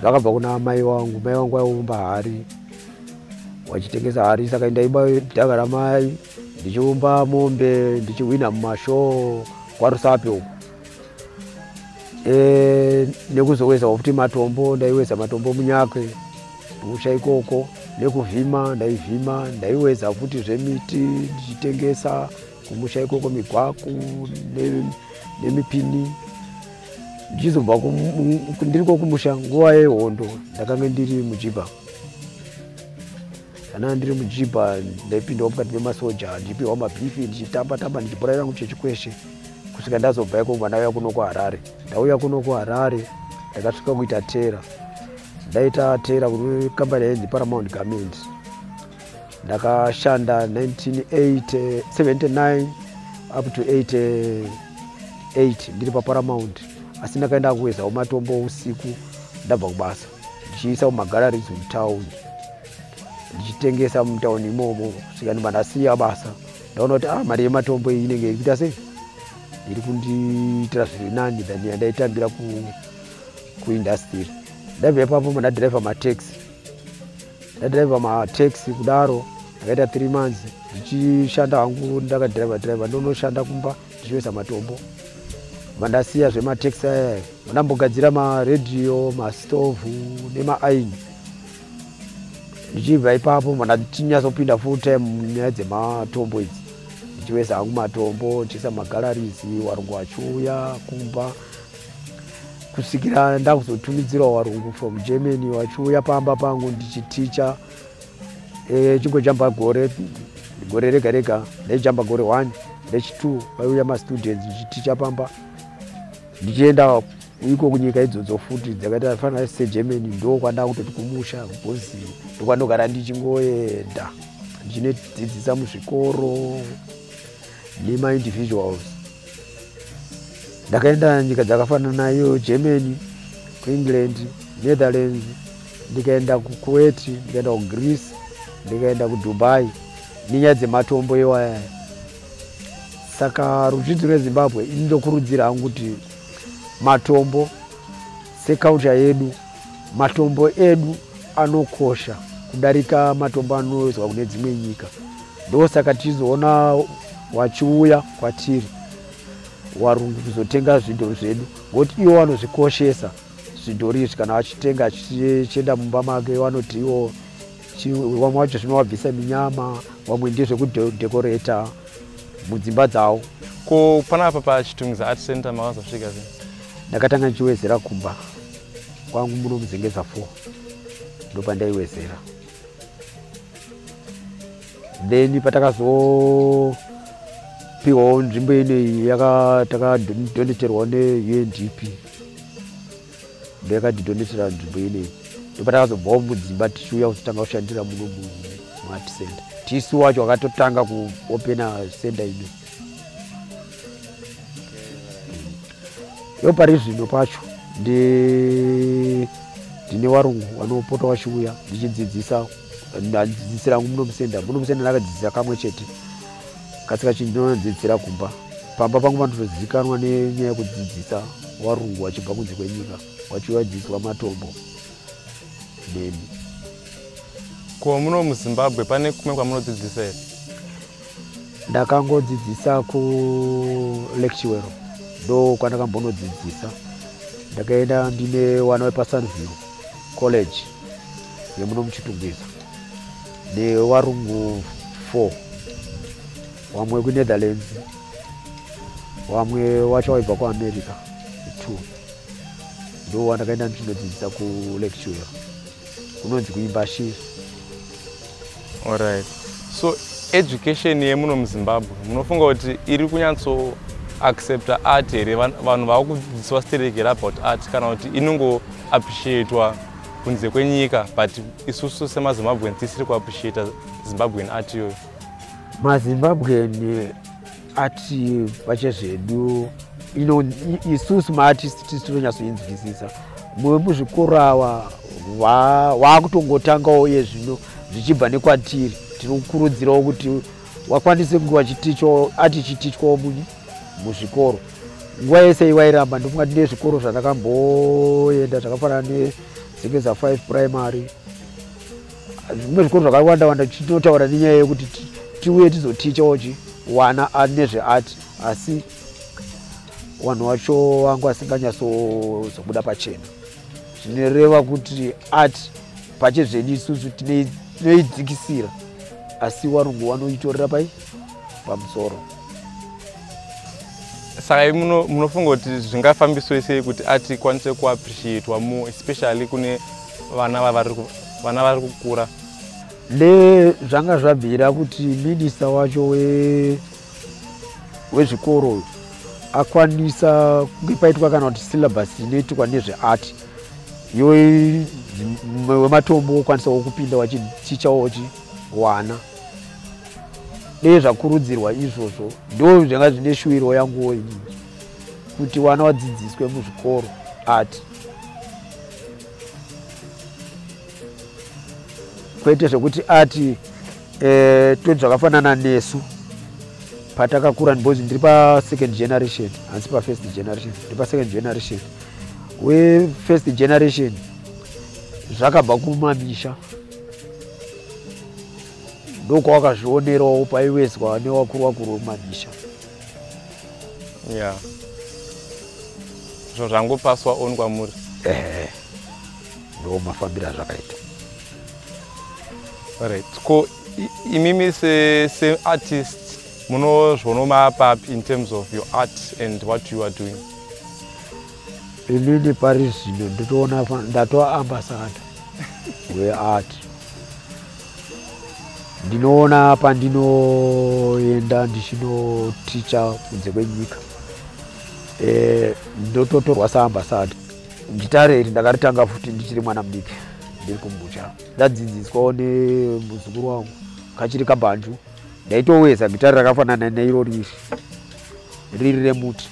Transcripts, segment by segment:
Ndakabva kuna mai wangu, mai wangu aiumba hari wachitengesa hari saka ndaiba dhaka ramai ndichiumba mombe ndichihwina mumashoo kwarusape uku e, nekuzoweza wakuti matombo ndaiweza matombo munyakwe musha ikoko nekuvhima ndaivhima ndaiweza futi zvemiti ndichitengesa kumusha ikoko migwaku nemipini ndichizobva ndiriko kumusha nguva yehondo ndakange ndiri mujiba kana ndiri mujiba ndaipindawo mukati memasoja ndichipihwa mabifi ndichitamba tamba ndichibhora yangu chechikweshe kusvika ndazobva iko mwana uya kuno kuharare ndauya kuno kuharare ndakasvika kuita tera ndaita tera kuri kambani yainzi paramount garment ndakashanda 1979 up to 88 ndiri paparamount asi ndakaenda kuwezawo matombo usiku ndabva kubasa ndichiisa kumagararies mutown ndichitengesa mutown imomo svika ndibva ndasiya basa ndaona kuti ah, mari yematombo iyi inenge ikuita sei iri kundiitira zviri nani than yandaitambira kuindastiri ndabva ipapo mandadhiraivha mataxi ndadriver mataxi kudaro akaita three months ndichishanda hangu ndakadriver driver ndonoshanda kumba ndichivesa matombo vandasiya zvemataxi aya ndambogadzira maradio mastovhu nemaaini ndichibva ipapo mandachinyazopinda full time nyaya dzematombo idzi ndichivesa hangu matombo ndichiisa magalaries warungu achiuya kumba kusvikira ndakuzotumidzirawo varungu from germany vachiuya pamba pangu ndichiticha e, chingojamba gore gore rega rega ndaijamba gore one ndechitwo vaiuya mastudents ndichiticha pamba ndichienda iko kunyika idzodzo futi dzakaita fanira segermany ndo kwandaa kutoti kumusha because ndokwanogara ndichingoenda ndichinodzidzisa muzvikoro nema individuals ndakaenda nyika dzakafanana nayo germany kuengland netherlands ndikaenda kukuweti ndikaenda kugreece ndikaenda kudubai nenyaya dzematombo iwaya saka ruzhinji rwezimbabwe ini ndokurudzira hangu kuti matombo Sekaunja yedu, matombo edu anokosha kudarika matombo anoizwa kune dzimwe nyika. Ndosaka tichizoona wachiuya kwatiri warungu kuzotenga zvidhori zvedu ngokuti iwo vanozvikoshesa zvidhori izvi kana achitenga achienda mumba make vanoti iwo vamwe vacho zvinovabvisa minyama vamwe ndezvekudhekoreta mudzimba dzavo ko panapa pachitungiza art center makazosvika zve ndakatanga ndichiwezera kumba kwangu muno muzengeza 4 ndopandaiwezera then patakazopiwawo nzvimbo ineyi yakatakadoneterwa neundp ndoyakatidonetera nzvimbo ineyi ndopatakazobvawo mudzimba tichiuya kutotanga kushandira muno muart center tisu wacho akatotanga kuopena center ineyi yo pari zvino pacho ndine varungu vanopota vachiuya ndichidzidzisa ndadzidzisira hangu muno musenda muno musenda ndakadzidzisa kamwe chete kasi kachinji ndinodzidzisira kumba pamba pangu panotozivikanwa nenyaya yekudzidzisa varungu vachibva kunze kwenyika vachivadzidziswa matombo nemi ko muno muzimbabwe pane kumwe kwamunodzidzisa here ndakangodzidzisa kulectuero ndo kwandakambonodzidzisa ndakaenda ndine wana wepasunview college yemuno muchitungwiza newarungu four wamwe wekuinetherlands wamwe wacho waibva kuamerica two ndo wandakaenda ndichinodzidzisa kulectuero kunonzi kuimba shiri Alright. So education yemuno muZimbabwe munofunga kuti iri kunyatso accepta art here vanhu vava kudzidziswa sterek here about art kana kuti inongo appreciatwa kunze kwenyika but isusu semazimbabwean tisiri kuappreciata zimbabwean art iyoyo mazimbabwean ati pache zvedu isusu maartist tisi tinonyatsoinzwisisa mumwe muzvikoro awa waakutongotangawo iye zvino zvichibva nekwatiri tiri kukurudzirawo kuti wakwanise kunge wachitichwa ati chitichwawo muni muzvikoro nguva yese iwairamba ndikungati nezvikoro zvandakamboenda zvakafanana nesekeza 5 primary zvimwe zvikoro zvakawanda wanda chinotaura nenyaya yekuti tiuye tizotichawo chi wana nezveart asi vanhu vacho vangu vasinganyatsozobuda pachena zvinoreva kuti art pache zvedu isusu tinoidzikisira asi varungu vanoitorera pai pamusoro saka i munofunga kuti zvingafambiswe sei kuti art ikwanise kuappreciatwa more especially kune vana vavari vana vari kukura le zvanga zvabvira kuti minista wacho we wezvikoro akwanisa kunge paitwa kana kuti syllabus inoitwa nezveart yo wematombo wokwanisa wokupinda wachiticha wochi wana dei zvakurudzirwa izvozvo ndo zvanga zvine shuwiro yanguwo inini kuti wana wadzidziswe muzvikoro art kwete zvekuti ati eh, toti zvakafanana nesu patakakura because ndiri pasecond generation hansi pafirst generation ndiri pasecond generation we first generation zvakabva kumamisha ndokwawakazvionerawo paiwezwa newakuru wakuru wemamisha yeah zvinhu zvangopaswa on kwamuri ehe ndo mafambiro azvakaita right ko imimi seartist munozvonoma papi in terms of your art and what you are doing inini pari zvino nditoona ndatoa ambasada weart ndinoona pandinoenda ndichinoticha kunze kwenyika eh, ndototorwa saambasada gitare iri ndakaritanga futi ndichiri mwana mudiki ndiri kumbucha ndadzidziswawo nemuzukuru wangu kachiri kabhanju ndaitoweza gitare rakafanana neirori iri riri remuti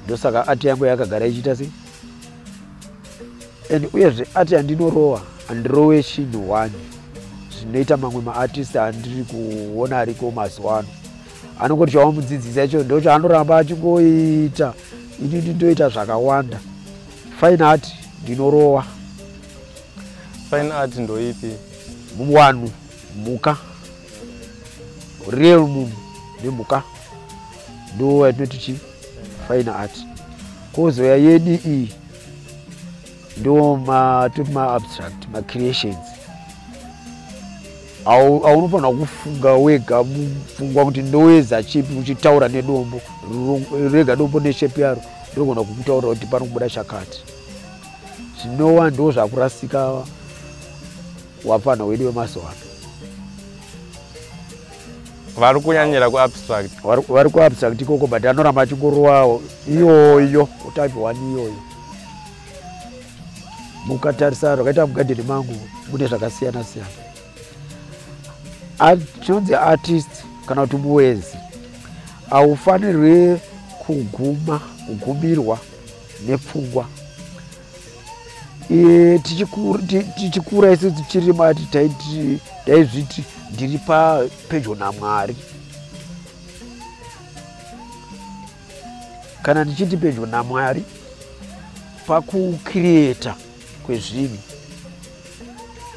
ndosaka ati yangu yakagara ichiita sei and uyezve ati andinorowa andirowe chinhu one zvinoita mamwe maartist andiri kuona ariko mazuva ano anongoti chawamudzidzisa icho ndo chaanoramba achingoita ini ndindoita zvakawanda fine art ndinorowa fine art ndoipi wanu mhuka real munhu nemhuka ndo yatinoti chi fine art kozoya yedi iyi ndo matoti maabstract macreations aunofanira kufunga wega mupfungwa kuti ndoweza chipi uchitaura nedombo rega dombo neshepi yaro ndogona kukutaura kuti pano kubuda chakati zvinowa ndo zvakurasika wapfanha wedu wemazuva ano vari kunyanyira kuabstract vari kuabstract ikoko but anoramba achingorowawo iyoyo utype one iyoyo mukatarisa rwakaita mugadheni mangu mune zvakasiyana siyana chinonzi artist kana kuti muwenzi haufanirwi kuguma kugumirwa nepfungwa e, tichikura tichi isu tichiri mati taiti taizviti ndiri papedyo namwari kana ndichiti pedyo namwari pakukrieta kwezvinhu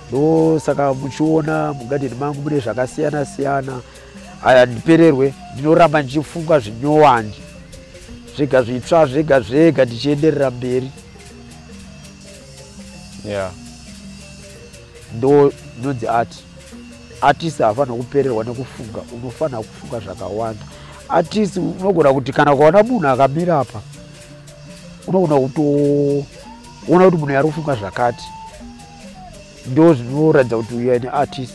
ndosaka muchiona mugadheni mangu mune zvakasiyana siyana aya ndipererwe ndinoramba ndichifunga zvinyowani zvega zvitsva zvega zvega ndichienderera mberi yeah. ndo ndonzi ati atisi hafanira kupererwa nekufunga unofanira kufunga zvakawanda atisi unogona kuti kana ukaona munhu akamira apa unogona kutoona kuti munhu yari kufunga zvakati ndo zvinoratidza kuti uyu aine artist